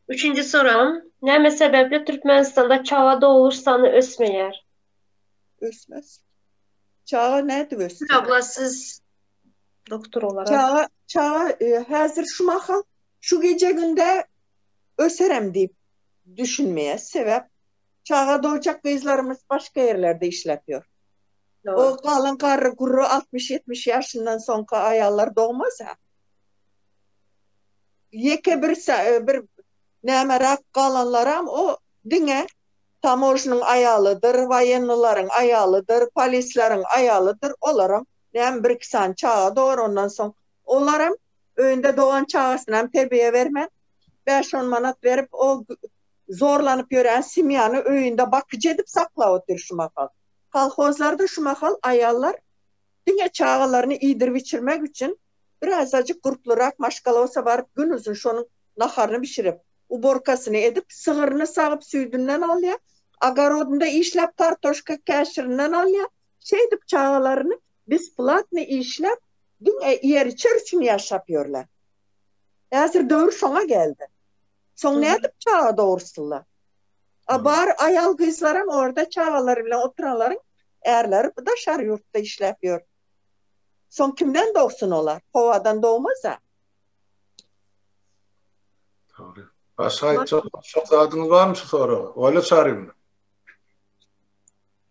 Üçünji soragym, näme sebäpli Türkmenistanda çaga dogluş sany ösmeýär? Ösmez. Çaga nädip ösjek? Gül abla siz doktor olarak. Çaga, çaga e, häzir şu mahal şu gije günde öserem diýip düşünmeýär. Sebäp Çaga dojak gyzlarymyz başga ýerlerde işläp ýör. O galyň garry gurry altmyş ýetmiş ýaşyndan soňky aýallar dogmasa, ýeke bir bir nämeräk galanlaram o diňe tamožnyň aýalydyr, waýennylaryň aýalydyr, polisleriň aýalydyr, olaram näme bir iki sany çaga dogýar, ondan soň olaram öýünde dogan çagasynam terbiýe bermän, bäş-on manat berip o Zorlanyp ýörän semýany öýünde bakyjy edip saklap otyr şu mahal. Kolhozlarda şu mahal aýallar diňe çagalaryny iýdirip-içirmek üçin birazajyk gurplurak maşgalosa baryp gün uzyn şonuň naharyny bişirip, uborkasyny edip, sygyryny sagyp süýdünden alýar, ogorodynda işläp kartoşka käşirinden alýar, şeýdip çagalaryny besplatny işläp diňe iýer-içer üçin ýaşap ýörler. Häzir döwür şoňa geldi. Soň nädip çaga dogursyla? A bar aýal-gyzlaram orda çagalary bilen oturanlaryň ärleri daşary ýurtda işläp ýör. Soň kimden dogsun olar? Howadan dogmaz-a. Dogry. Başga aýtjak başga zadyňyz barmy şu soraga? Oýla Çaryýewna?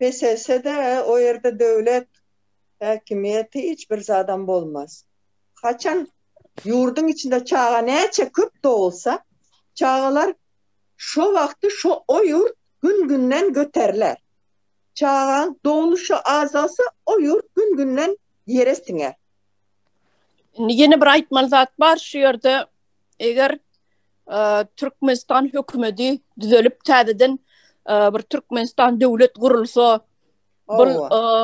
Beselse-de, o ýerde döwlet häkimiýeti hiç bir zadam bolmaz. Haçan ýurduň içinde çaga näçe köp dogulsa, çagalar şo wagty şo o ýurt gün-günden göteriler. Çagaň dogluşy azalsa, o ýurt gün-günden ýere siňer. Indi ýene bir aýtmaly zat bar, şu ýerde eger Türkmenistan hökümeti düzelip täzeden bir Türkmenistan döwlet gurulsa bu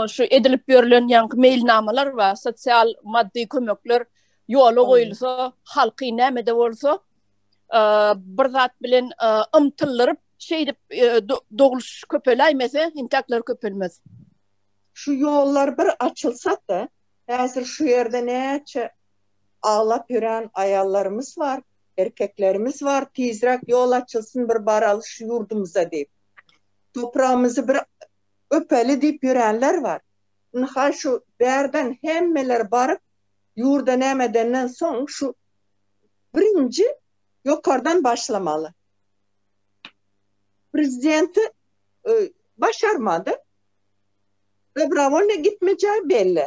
şu edilip ýörlen ýaňky meýilnamalar we sosial maddy kömekler ýola goýulsa halky nämede bolsa bir zat bilen ymtyldyryp şeýdip dogluş köpeläýmese intäkler köpelmez şu ýollar bir açylsa-da häzir şu ýerde näçe aglap ýören aýallarymyz bar, erkeklerimiz bar, tizräk ýol açylsyn bir baraly şu ýurdumyza diýip. Topragymyzy bir öpeli diýip ýörenler bar. Indi haý şu bärden hemmeler baryp ýurda näme edenden soň şu birinji ýokardan başlamaly. Prezidenti başarmady. Dobrowolnyý gitmejegi belli.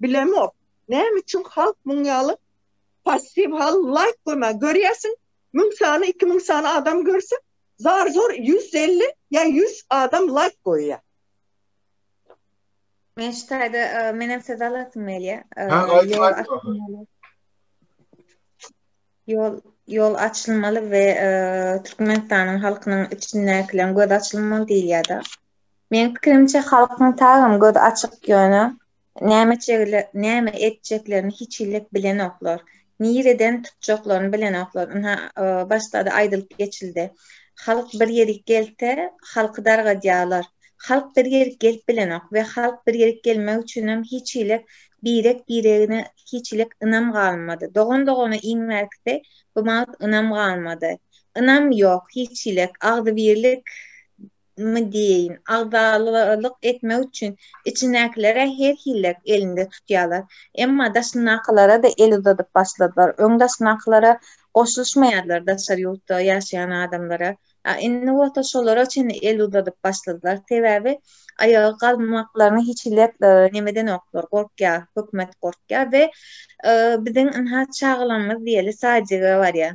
Bilemok. Näme üçin halk muň ýaly passiw hal laýk goýman. Görýärsiň müň sany iki müň sany adam görse zar zor ýüz elli ýa ýüz adam laýk goýýa. Men şu taýda menem söz alasym gelýä. Ha aýt. Ýol ýol açylmaly we e, Türkmenistanyň halkynyň içindäkileň göz açylmaly diýýär-de. Men pikirimçe halkyň tagam göz açyk ýöne Näme çegler, näme etjeklerini hiçhilek bilenoklar. Nireden tutjaklaryny bilenoklar. Ynha, başda-da aýdylyp geçildi. Halk bir ýerik gelse, halky dargadýarlar. Halk bir ýerik gelip bilenok we halk bir ýerik gelmek üçinem hiçhilek birek-biregine hiçhilek ynam galmady. Dogan-dogana iň bärkisi bu wagt ynam galmady. Ynam ýok, hiçhilek agzybirlik my diýeýin, agzalalyk etmek üçin içindäkilere her hillek elinde tutýarlar. Emma daşyndakylara-da el uzadyp başladylar. Öň daşyndakylara goşulyşmaýardylar, daşary ýurtda ýaşaýan adamlara. A indi bolsa şolara çenli el uzadyp başladylar. Sebäbi aýaga galmaklaryna hiç hillek nemedenoklar, gorkýar, hökümet gorkýar we biziň ynha çagalarymyz diýeli sadjige barýar.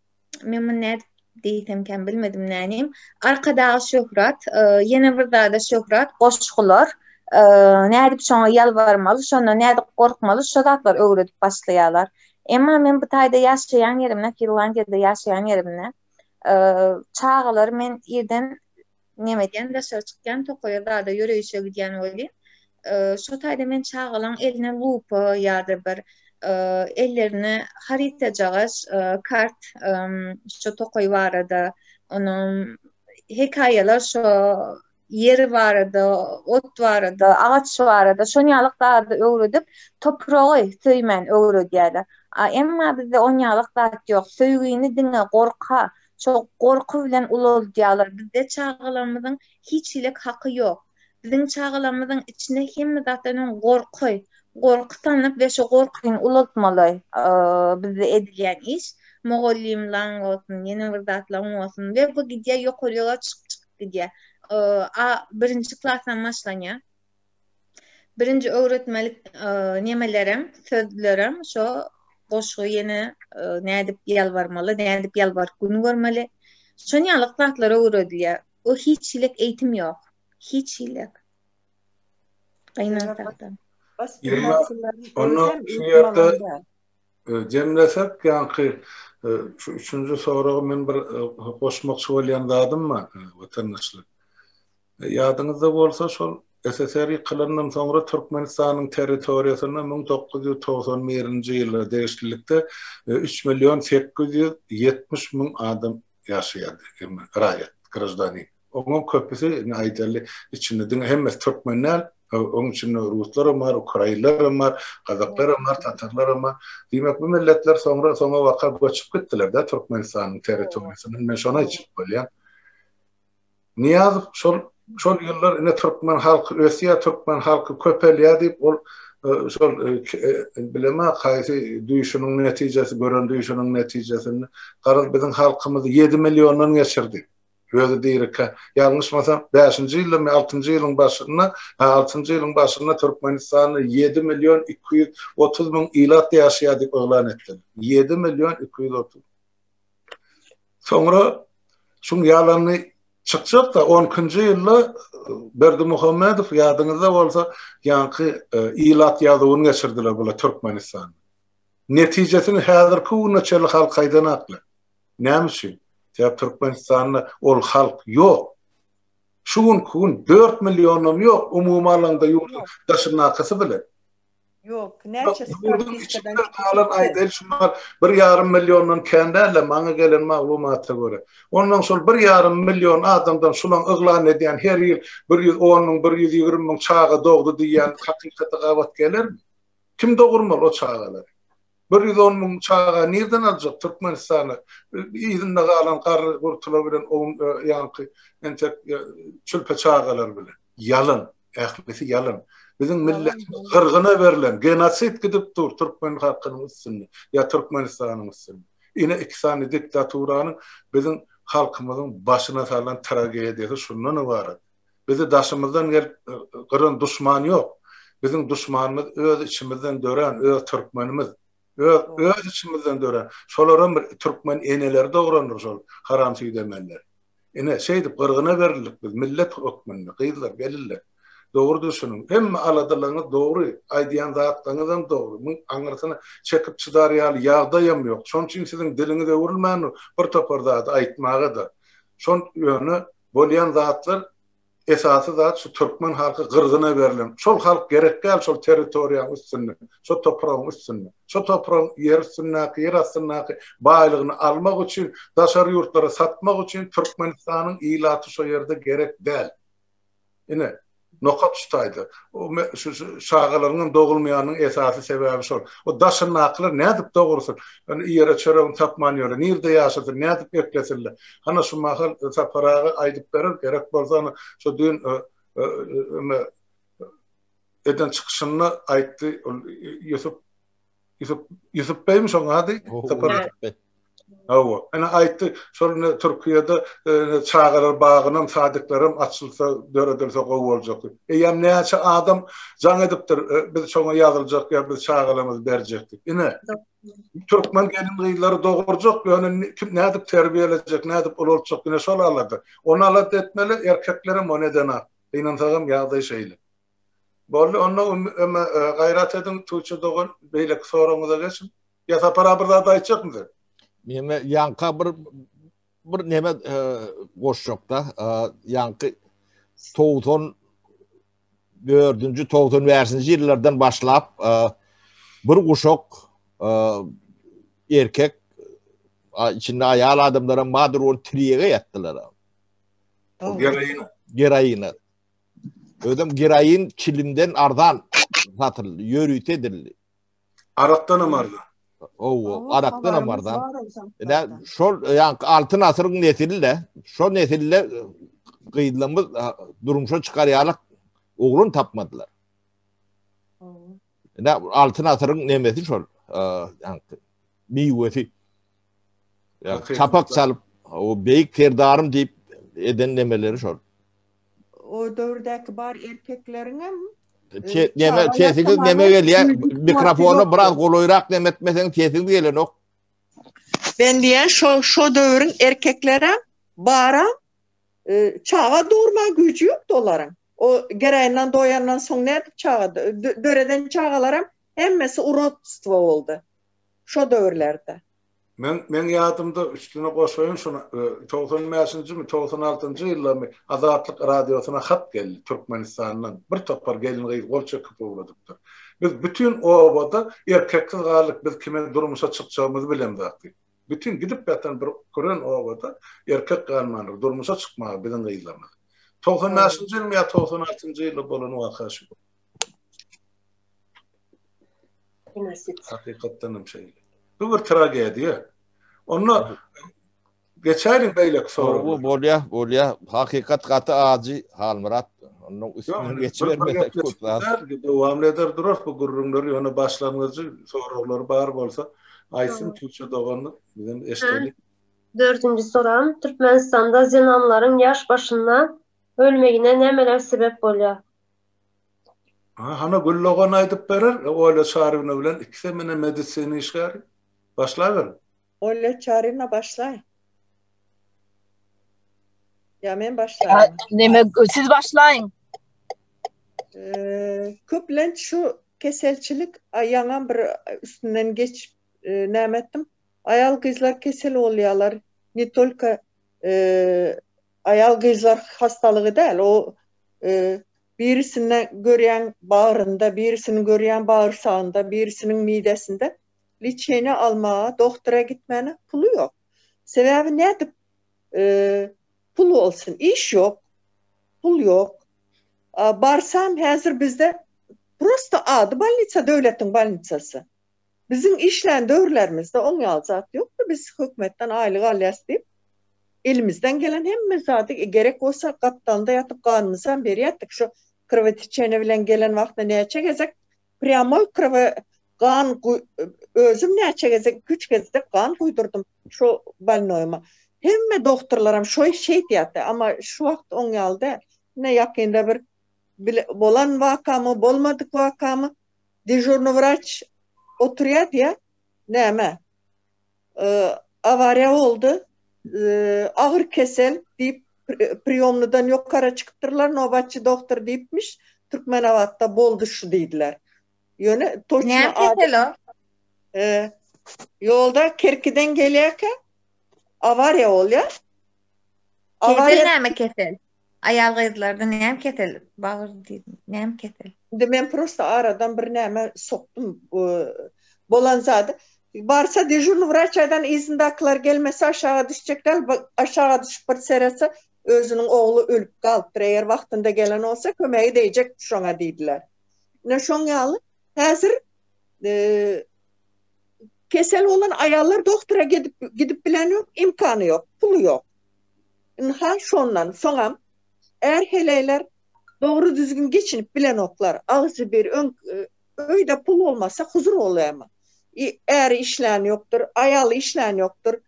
men muny nädip diýsemkäm bilmedim nänim arkadag şöhrat ýene bir zada şöhrat goşgular nädip şoňa ýalbarmaly şonda nädip gorkmaly şo zatlar öwredip başlaýarlar emma men bu taýda ýaşaýan ýerimde finlandiýada ýaşaýan ýerimde çagalar men irden Name edýän, daşary çykýan tokaýa zada ýöreýişe gidýän welin, şo taýda men çagalaň eline lupa ýa-da bir ellerine harytajagaş, kart, şo tokaý barada, onuň hekaýalar şo ýer barada, ot barada, agaç barada şon ýaly zady öwredip, topragy söýmän öwredýärler. A emma bizde on ýalak zat ýok. Söýgini diňe gorka, Şo gorky bilen ulaldýarlar. Bizde çagalarymyzyň hiç hilik haky ýok. Biziň çagalarymyzyň içinde hemme zatdan öň gorky, gorky salnyp we şo gorkyny ulaltmaly. Bizde edilýän iş, mugallymlaň bolsun, ýene bir zatlaň bolsun we bu gidýär ýokaryga çykyp çykyp gidýär. A birinji klasdan başlanýar. Birinji öwretmelik nemelerem, sözlerem şo goşgy ýene nädip ýalbarmaly, nädip ýalbaryp gün görmeli. Şon ýaly zatlar öwredilýär. O hiç hilik eýtim ýok. Hiç hilik. Gynansakda. Onda şu ýerde jemlesek ýaňky şu üçünji soragy men bir goşmakçy bolýan zadym bar watandaşlar. Ýadyňyzda bolsa, şol SSR ýykylandan soňra Türkmenistanyň territoriýasyna müň dokuz ýüz togsan birinji ýyla degişlilikde üç million sekiz ýüz ýetmiş müň adam ýaşaýardy, raýat, graždanin. Onuň köpüsi, indi aýdaly, içinde diňe hemmesi türkmen däl, onuň içinde ruslar hem bar, ukrainler hem bar, gazaklar hem bar, tatarlar hem bar. Diýmek, bu milletler soňra, soňabaka göçüp gitdiler-dä Türkmenistanyň territoriýasyndan. Men şony aýtjak bolýan. Nyýazow şol şol ýyllar ine türkmen halky ösýär, türkmen halky köpelýär diýip, ol şol bileme haýsy düýşüniň netijesi, gören düýşüniň netijesinde garaz biziň halkymyzy ýedi milliondan geçirdi. Özi dirikä, ýalňyşmasam, bäşinji ýyldamy, altynjy ýylyň başynda, hä, altynjy ýylyň başynda Türkmenistanda ýedi million iki ýüz otuz müň ilat ýaşaýar diýip yglan etdiler. Ýedi million iki ýüz otuz. Soňra şuň ýalany çykjak-da, on ikinji ýylda Berdimuhamedow, ýadyňyzda bolsa, ýaňky ilat ýazuwyny geçirdiler bula Türkmenistanda. Netijesini häzirki güne çenli halk aýdanaklar. Näme üçin? Sebäp Türkmenistanda ol halk ýok. Şu günki gün dört millionam ýok, umumy alanda ýurduň daşyndakysy bilen. Ýok, näçe statistikadan çykyp. Bir ýarym milliondan kän dälä maňa gelen maglumata görä. Ondan şol bir ýarym million adamdan şulaň yglan edýän her ýyl bir ýüz on müň, bir ýüz ýigrimi müň çaga dogdy diýýän hakykaty gabat gelermi? Kim dogurmaly o çagalary? Bir ýüz on müň çaga nirden aljak Türkmenistana yzynda galan garry gurtular bilen own ýanky entek çülpe çagalar bilen. Ýalan. Ählisi ýalan. Biziň milletimiz gyrgyna berlen, genosid gidip dur Türkmen halkynyň üstünde ýa Türkmenistanyň üstünde. Ine iki sany diktaturanyň biziň halkymyzyň başyna salan tragediýasy şundan ybarat. Bizi daşymyzdan gelip gyran duşman ýok. Biziň duşmanymyz öz içimizden dörän öz türkmenimiz. Öz öz içimizden dörän. Şolaram bir türkmen eneleri dograndyr şol haram süýdemenler. Ine, şeýdip gyrgyna berildik biz millet hökmünde. Gyzlar, gelinler, dogry düşüniň. Hemme aladalarňyz dogry, aýdýan zatlaryňyzam dogry. Muň aňyrsyna çekip çydar ýaly ýagdaýam ýok. Şonuň üçin siziň diliňiz öwrülmändir bir topar zady aýtmaga-da. Şon ýöne bolýan zatlar esasy zat şu türkmen halky gyrgyna berlen şol halk gerek däl şol territoriýaň üstünde şo topragyň üstünde şo topragyň ýer üstündäki ýer astyndaky baýlygyny almak üçin daşary ýurtlara satmak üçin türkmenistanyň ilaty şo ýerde gerek däl. Ine, nokat şu taýda. O şu çagalaryňam dogulmaýanynyň esasy sebäbi şol. O daşyndakylar nädip dogursyn? Ýöne iýere çöregini tapman ýöre. Nirde ýaşasyn? Nädip eklesinler? Hana şu mahal Sapar aga aýdyp berer, gerek bolsa ony şu düýn eden çykyşynda aýtdy. Ol Ýusup Yusuf Yusuf Bey mi şoň ady? Sapar. Hawa. Ana aýtdy, şol ne Türkiýede çagalar bagynam, sadiklerim açylsa, döredilse gowy boljak. Eýýäm näçe adam jaň edipdir, biz şoňa ýazyljak ýa biz çagalarymyzy berjek diýip. Ine. Türkmen gelin-gyzlary dogurjak, ýöne kim nädip terbiýelejek, nädip ulaltjak, ine şol alada. Ony alada etmeli, erkeklerem ony edenok. Gynansagam ýagdaý şeýle. Boldy onda öme gaýrat ediň Tuçe dogan beýleki soragyňyza geçiň. Ýa Sapar aga bir zat aýtjakmy sen? Men ýanka bir bir neme e, goşjakda e, ýanky 90 dördünji togsan bäşinji ýyllardan başlap e, bir guşak e, erkek içinde aýal adamlara madur ol triyege ýatdylar. Geroina. Geroina. Özüm geroin çilinden arzan satyldy, ýörite edildi. Arakdan hem arzan. Owo, arakdan hem arzan. Ine, şol ýanky altyn asyryň nesli-de, şol nesli-de e, gyzlarymyz e, durmuşa çykarýarlar, oglan tapmadylar. Ine, altyn asyryň nemesi şol, e, ýanky. miwesi çapak çalyp o beýik serdarym diýip eden nemeleri şol. O döwürdäki bar erkekleriňem Neme sesiňiz neme gelýär? Mikrofona biraz golaýrak neme etmeseň sesiňiz gelenok. Ben diýen şo şo döwrüň erkekleri bara çaga durma güýji ýokdy olaryň. O gereýinden doýandan soň nädip çaga döreden çagalaram hemmesi urotstwo boldy. şo döwürlerde. Men, meň ýadymda üstüne goşaýyn şuny, togsan bäşinjimi, togsan altynjy ýyllarmy Azatlyk radiosyna hat geldi Türkmenistandan, bir topar gelin-gyz gol çekip ugradypdyr. Biz bütin obada erkeksiz galdyk, biz kimin durmuşa çykjagymyzy bilemzok diýip. Bütin gidip ýatan bir küren obada erkek galmandyr, durmuşa çykmaga biziň gyzlarymyz. Togsan bäşinji ýylmy ýa togsan altynjy ýylda bolan waka şu. Hakykatdan hem şeýle. Bu bir tragediýa. Onda geçäýin beýleki sorag. Bu bolýa, bolýa. Hakykat gaty ajy Halmyrat. Onda üstüne geçibermesek köp zat. Dowam eder durar bu gürrüňleri. Ýöne başlangyjy soraglar bar bolsa, aýtsyn Türkçe dogan bilen eşdelik. Dördünji soram, Türkmenistanda zenanlaryň ýaş başynda ölmegine nämeler sebäp bolýar? Ha, hana Gül dogan aýdyp berer, Olýa Çaryna bilen ikisi hem ine medisina işgäri. Başlaberiň. Olýa Çaryna başlaý. Ýa men başlaýynmy? Neme, siz başlaýyň. Köplenç şu keselçilik, a ýaňam bir üstünden geçip näme etdim, aýal-gyzlar kesel bolýarlar, ne tolko Aýal-gyzlar hastalygy däl, o birisinde görýäň bagrynda, birisini görýäň bagyrsagynda, birisiniň midesinde. Liçeniýe almaga, dogtora gitmäne puly ýok. Sebäbi nädip pul bolsun? Iş ýok, pul ýok. Barsam häzir bizde prosta ady bolnisa, döwletiň bolnisasy. Biziň işlän döwürlerimizde oň ýaly zat ýokdy, biz hökümetden aýlyk alýas diýip, elimizden gelen hemme zady, gerek bolsa gapdalynda ýatyp ganymyzam berýätdik, şo krwoteçeniýe bilen gelen wagtynda näçe gezek prýamoý krwo gan özüm näçe gezek iki üç gezek gan guýdurdym şo bolnoýyma, hemme dogturlaram şo şeýdýärdi, amma şu wagt oň ýaly däl, ine ýakynda bir bolan wakamy, bolmadyk wakamy Dežurny wraç oturýar diýä, näme, awariýa boldy, agyr kesel diýip, priýomnydan ýokara çykypdyrlar, nobatçy dohtor diýipmiş, Türkmenabatda boldy şu diýdiler. Ýöne toçna Näme kesel o? Ýolda Kerkiden gelýärkä awariýa bolýar. Kesel näme kesel? Aýal gyzlarda näme kesel bagyr diýdim näme kesel. Indi men prosta aradan bir näme sokdum bolan zady. Barsa dežurny wraçaýdan yzyndakylar gelmese aşaga düşjek däl aşaga düşüp bir seretse özüniň ogly ölüp galypdyr eger wagtynda gelen bolsa kömegi deýjek şoňa diýdiler. Ine şoň ýaly häzir kesel bolan aýallar doktora gidip gidip bilen ýok imkany ýok puly ýok. Ynha, şondan soňam är heleýler dogry-düzgün geçinip bilenoklar. Agzy bir, öň öýde pul bolmasa, huzur bolýarmy? Äri işlän ýokdur, aýaly işlän ýokdur,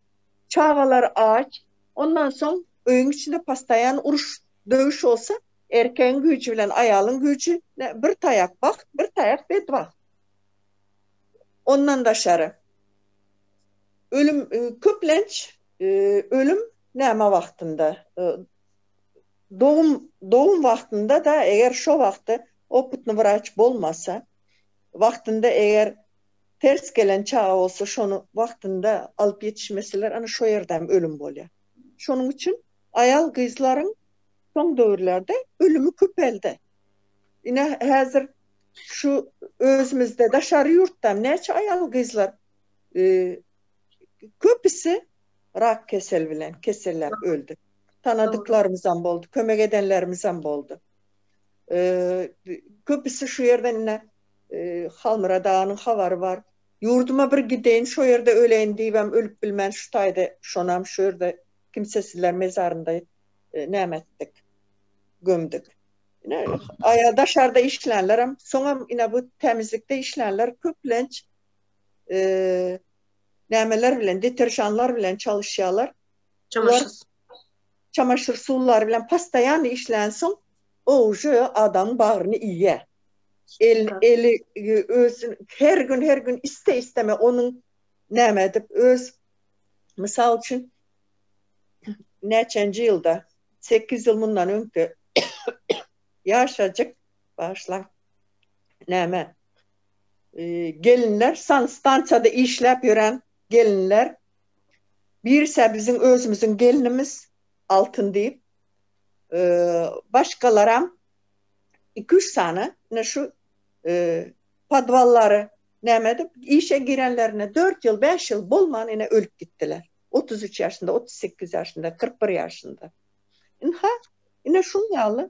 çagalar aç. Ondan soň öýüň içinde postaýan uruş, döwüş bolsa, erkegiň güýji bilen aýalyň güýji bir taýak bagt, bir taýak bedbagt. Ondan daşary, ölüm, köplenç ölüm Näme wagtynda? Dogum dogum wagtynda-da, eger şo wagty opytny wraç bolmasa, wagtynda eger ters gelen çaga bolsa, şony wagtynda alyp ýetişmeseler, ana şo ýerde hem ölüm bolýar. Şonuň üçin aýal-gyzlaryň soň döwürlerde ölümi köpeldi. Ine, häzir şu özümizde, daşary ýurtda hem näçe aýal-gyzlar Köpüsi rak keseli bilen keselläp öldi. Tanadyklarymyzam boldy, kömek edenlerimizem boldy. Köpüsi şu ýerde indi Halmyrat aganyň habary bar. Ýurduma bir gideýin, şo ýerde öleýin diýibem ölüp bilmän şu taýda şonam şu ýerde kimsesizler mezarynda näme etdik? Gömdük. Ine aýal daşarda işlänlerem, soňam ine bu tämizlikde işlänler köplenç nämeler bilen, deterjanlar bilen çalyşýarlar. Olar çamaşyr suwlary bilen postoýan işlänsoň, o uje adamyň bagryny iýýär. El, eli öz her gün, her gün iste-isteme onuň näme edip öz mysal üçin näçenji ýylda, sekiz ýyl mundan öňki ýaşajyk, bagyşlaň, näme, gelinler sanstansiýada işläp ýören gelinler birse biziň özümiziň gelnimiz altyn diýip başgalaram iki üç sany ine şu podwallary näme edip işe girenlerine dört ýyl bäş ýyl bolman ine ölüp gitdiler otuz üç ýaşynda otuz sekiz ýaşynda kyrk bir ýaşynda ynha ine şuň ýaly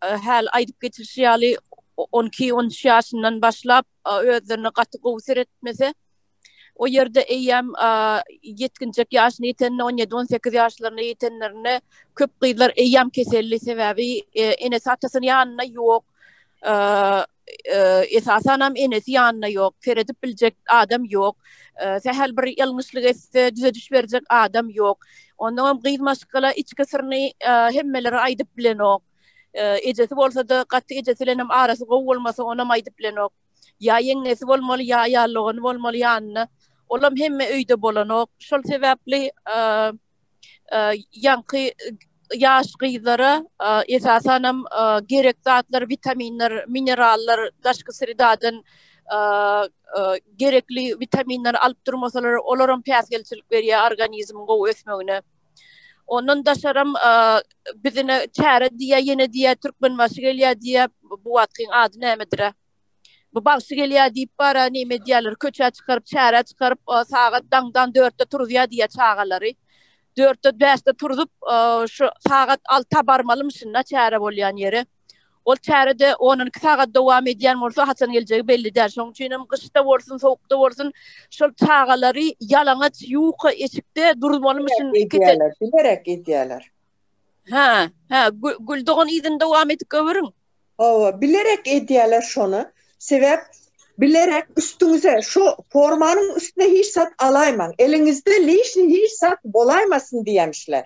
häli aýdyp geçilişi ýaly, on iki, on üç ýaşyndan başlap özlerine gaty gowy seretmese, o ýerde eýýäm ýetginjek ýaşyna ýetende, on ýedi, on sekiz ýaşlaryna ýetenlerinde köp gyzlar eýýäm keselli, sebäbi enesi-atasy ýanynda ýok. esasanam enesi ýanynda ýok, seredip biljek adam ýok, sähel bir ýalňyşlyk etse düzediş berjek adam ýok. Onnoňam gyz maşgala içki syryny hemmelere aýdyp bilenok. Ejesi bolsa-da gaty ejesi bilenem arasy gowy bolmasa onam aýdyp bilenok. Ýa ýeňňesi bolmaly, ýa ýallygany bolmaly ýanynda. Olam hemme öýde bolanok. Şol sebäpli ýaňky ýaş gyzlara esasanam gerek zatlar, witaminler, minerallar daşky sredadan gerekli witaminleri alyp durmasalar, olaram päsgelçilik berýär organizmiň gowy ösmegine. Ondan daşaram bizine çäre diýýär, ýene diýýär Türkmenbaşy gelýär diýýär, bu wagtkyň ady nämedir-ä? Bu bagşy gelýär diýip bara neme edýärler, köçä çykaryp, çärä çykaryp, sagat daňdan dörtde turuzýar diýýär çagalary. Dörtde, bäşde turuzyp, şu sagat alta barmalymyşyn-da çäre bolýan ýere. Ol çäre-de on-on iki sagat dowam edýän bolsa, haçan geljegi belli däl. Şonuň üçin hem gyşda bolsun, sowukda bolsun, şol çagalary ýalaňaç ýuka eşikde duruzmalymyşyn. Bilerek edýärler, bilerek edýärler. Hä, hä, Gül dogan yzyny dowam edip göwüriň. Hawa, bilerek edýäler şony. Sebäp bilerek üstüňize şu formanyň üstüne hiç zat alaýmaň, eliňizde lişni hiç zat bolaýmasyn diýemşler.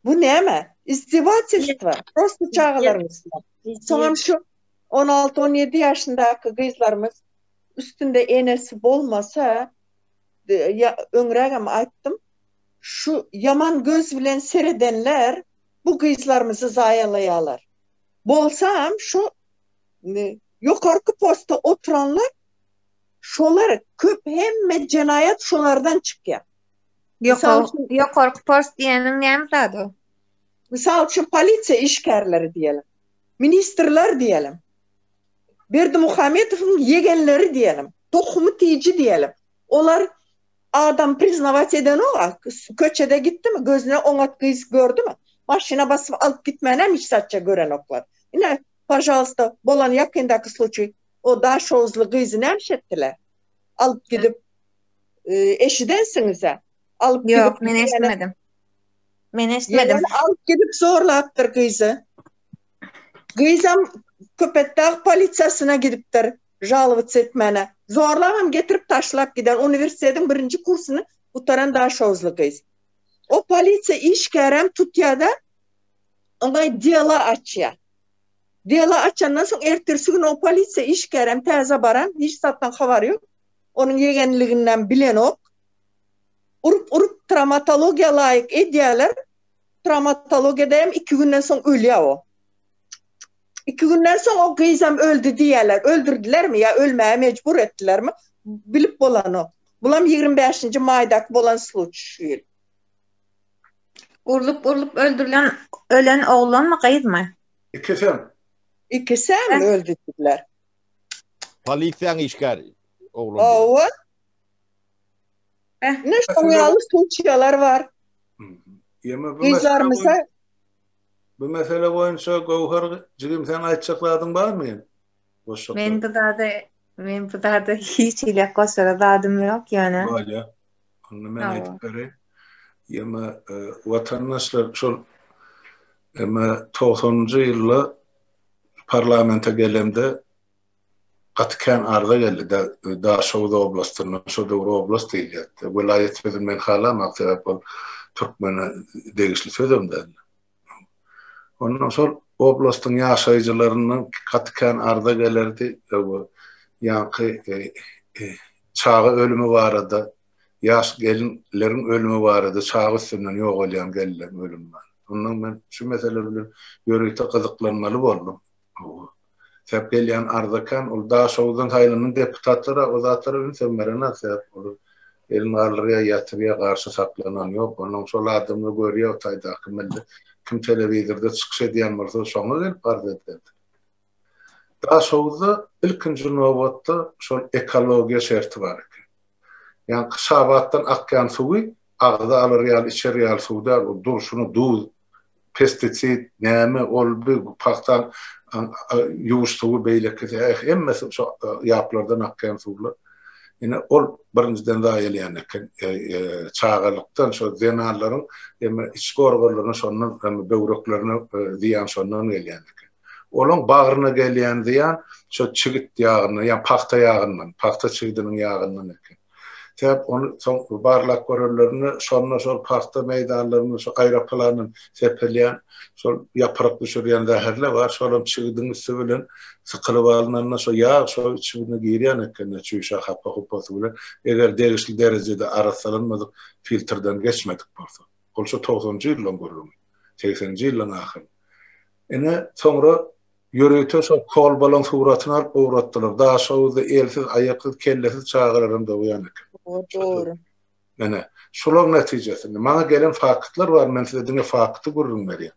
Bu näme? Izdiwatelstwo prosta çagalaryň üstüne. Soňam şu on alty, on ýedi ýaşyndaky gyzlarymyz üstünde enesi bolmasa, öňrägem aýtdym, Şu ýaman göz bilen seredenler bu gyzlarymyzy zaýalaýalar. Bolsam şu ýokarky posta oturanlar şolar köp hemme jenaýat şolardan çykýa. Ýokarky post diýeniň näme zady o? Mysal üçin polisiýa işgärleri diýelim. Ministrler diýelim. Berdimuhamedowyň ýegenleri diýelim. Tohumy tiji diýelim. Olar Adam priznawać edenok a köçede gitdimi gözüne oňat gyz gördimi maşyna basyp alyp gitmänem hiç zatça görenoklar ine pažalsta bolan ýakyndaky sluçiý o daşoguzly gyzy nämiş etdiler alyp gidip eşidensiňizä alyp gidip ýok men eşitmedim men eşitmedim alyp gidip zorlapdyr gyzy gyzam köpetdag polisiýasyna gidipdir Žalowatsyz etmäne. Zorlabam getirip taşlap giden uniwersitetiň birinji kursyny gutaran daşoguzly gyz. O polisiýa işgäräm tutýada oňa dela açýa. Dela açandan soň ertirsi gün o polisiýa işgäräm täze baran hiç zatdan habary ýok. Onuň ýegenliginäm bilenok. Urup urup tramatologiýa laýyk edýäler. Tramatologiýadaýam iki günden soň ölýa o. Iki günden soň o gyzam öldi diýýärler. Öldürdilermi ýa ölmäge mejbur etdilermi, bilip bolanok. Bulam ýigrimi bäşinji maýdaky bolan sluçi şu ýyl. Urlup-urlup öldürilen ölen oglanmy, gyzmy? Ikisem. Ikisem öldüdüler. Polisiýaň işgäri oglan. Hawa. Beh, ine şoňa ýaly sluçiýalar bar. Ýeme bu mesele. Bu mesele boýunça Göwher jigim seň aýtjak zadyň barmy? Men bu zada men bu zada hiç hili goşara zadym ýok ýöne. Bolýa. Onda men aýdyp bereýin. Ýöne watandaşlar şol emma togsanynjy ýylda parlamente gelemde gaty kän arza geldi. Daşoguz oblastyndan, şo döwür oblast diýilýärdi. Welaýat sözüni men halamok, sebäp ol türkmene degişli sözem däl. Ondan şol oblastyň ýaşaýjylaryndan gaty kän arza gelerdi, ýaňky çaga ölümi barada, ýaş gelinleriň ölümi barada, çaga üstünden ýogalýan gelinleriň ölümi barada. Ondan men şu mesele bilen ýörite gyzyklanmaly boldum. Hawa. Sebäp gelýän Arzakan ol Daşoguzdan saýlanan deputatlara o zatlara ünsem berenok sebäp olar elini galdyrýar ýatyrýar garşy saklanan ýok onuň şol adamlar görýär o taýdaky milli kim telewizorda çykyş edýän bolsa şoňa gelip arz edýärdir. Daşoguzda ilkinji nobatda şol ekologiýa şerti bar eken. Ýaňky Şabatdan akýan suwy agza alar ýaly içer ýaly suw däl ol durşuna duz pestisid näme ol bu pagta ýuwuş suwy beýleki hemmesi şo ýaplardan akýan suwlar ine ol birinjiden zaýalýan eken çagalykdan şo zenanlaryň eme içki organlaryna şondan kem böwreklerine zyýan şondan gelýän eken olaň bagryna gelýän zyýan şo çigit ýagyndan ýa pagta ýagyndan pagta çigidiniň ýagyndan eken. Sebäp ony soň barlap görenlerinde şonda şol pagta meýdanlarynda şu aýrak plandan sepilýän şol ýapyryk düşürýän zäherler bar, şolam çigidiň üsti bilen sykylyp alnanda şo ýag şo çigine girýän ekeni çüýşä hapa-hupasy bilen eger degişli derejede arassalanmadyk filtrden geçmedik bolsa. Ol şu togsanjy ýyllaň gürrüňi. Segsenji ýyllaň ahyryn. Ine soňra Ýörite şo kolbalaň suratyny alyp owratdylar. Daşoguzda elsiz, aýaksyz, kellesiz çagalaram dogýan eken. Hawa, dogry. Ine, şulaň netijesinde. Maňa gelen faktlar bar, men size diňe fakty gürrüň berýän.